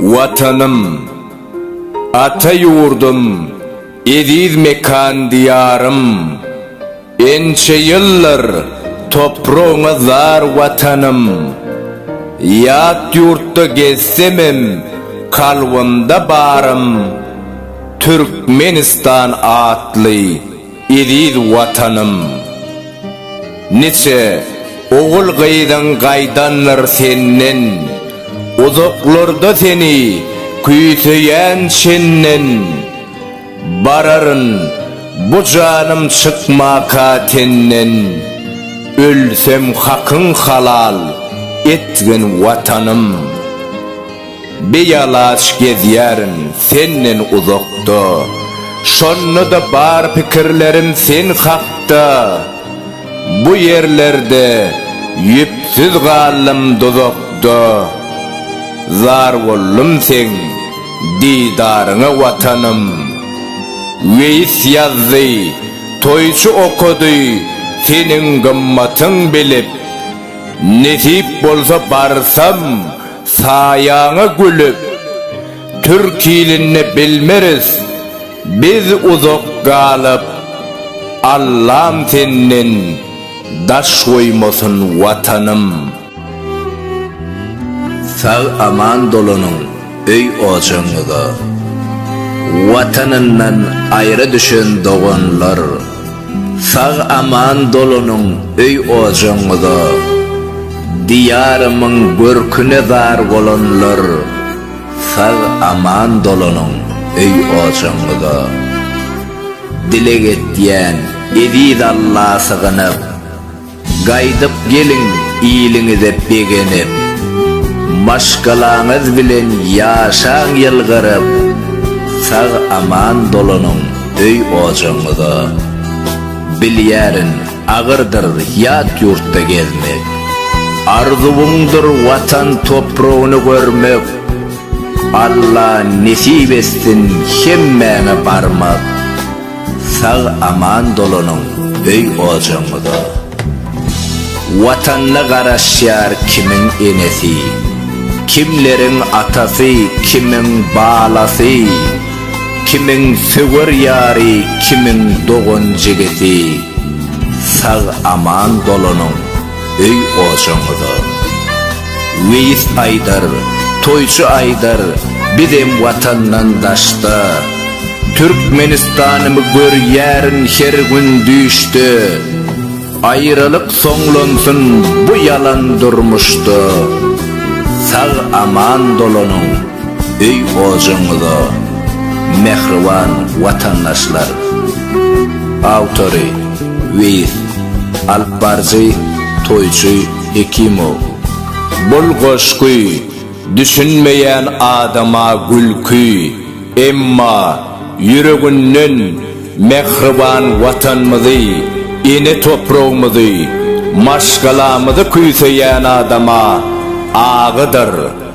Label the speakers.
Speaker 1: Watanym, ata ýurdum, eziz mekan Diýarym! Ençe ýyldyr topragyňa zar Watanym! Ýat ýurtda gezsemem kalbymda barym Türkmenistan atly. Eziz Watanym! Niçe ogul-gyzyň gaýdandyr senden, Uzaklarda seni küýseýän çenden. Bararyn bu janym çykmaka tenden, Ölsem hakyň halal etgin Watanym! Bialaç gezýärin senden uzakda, Şonda-da bar pikirlerim sen hakda. Bu ýerlerde ýüpsüz galdym duzakda, Zar boldum seň didaryňa Watanym. Weýis ýazdy, toýçy okady, Seniň gymmatyň bilip, Nesip bolsa barsam Saýaňa gülüp, türk ilinde bilmeris biz uzak galyp, Allam senden daş goýmasyn Watanym. Sag aman dolanyň öý ojagyňyza. Watanyndan aýra düşen doganlar. Sag aman dolanyň öý ojagyňyza, Diýarymyň görküne zar bolanlar, Sag aman dolanyň öý ojagyňyza. Dileg etýän eziz Alla sygynyp. Gaýdyp geliň iliňize begenip, Maşgalaňyz bilen ýaşaň ýylgyryp, Sag-aman dolanyň öý-ojagyňyza. Bilýärin, agyrdyr ýat ýurtda gezmek, Arzuwyňdyr Watan topragyny görmek, Alla nesip etsin hemmäňe barmak. Sag aman dolanyň öý ojagyňyza. Watanyna garaşýar kimiň enesi, kimleriň atasy, kimiň balasy, kimiň söwer ýary, kimiň dogan jigisi. Sag aman dolanyň. öý ojaňyza. Weýis aýdar, toýçy aýdar, bizem watandan daşda. Türkmenistanymy görýärin her gün düýşde. Aýralyk soňlansyn bu ýalan durmuşda. Sag-aman dolanyň! Öý-ojagyňyza mähriban watandaşlar! Awtory, Weýis, Alyp baryjy, Toýçy Hekimow. Bul goşgy düşünmeýän adama gülki, emma ýüreginden mähriban Watanymyzy, ene topragymyzy, maşgalamyzy küýseýän adama agydyr,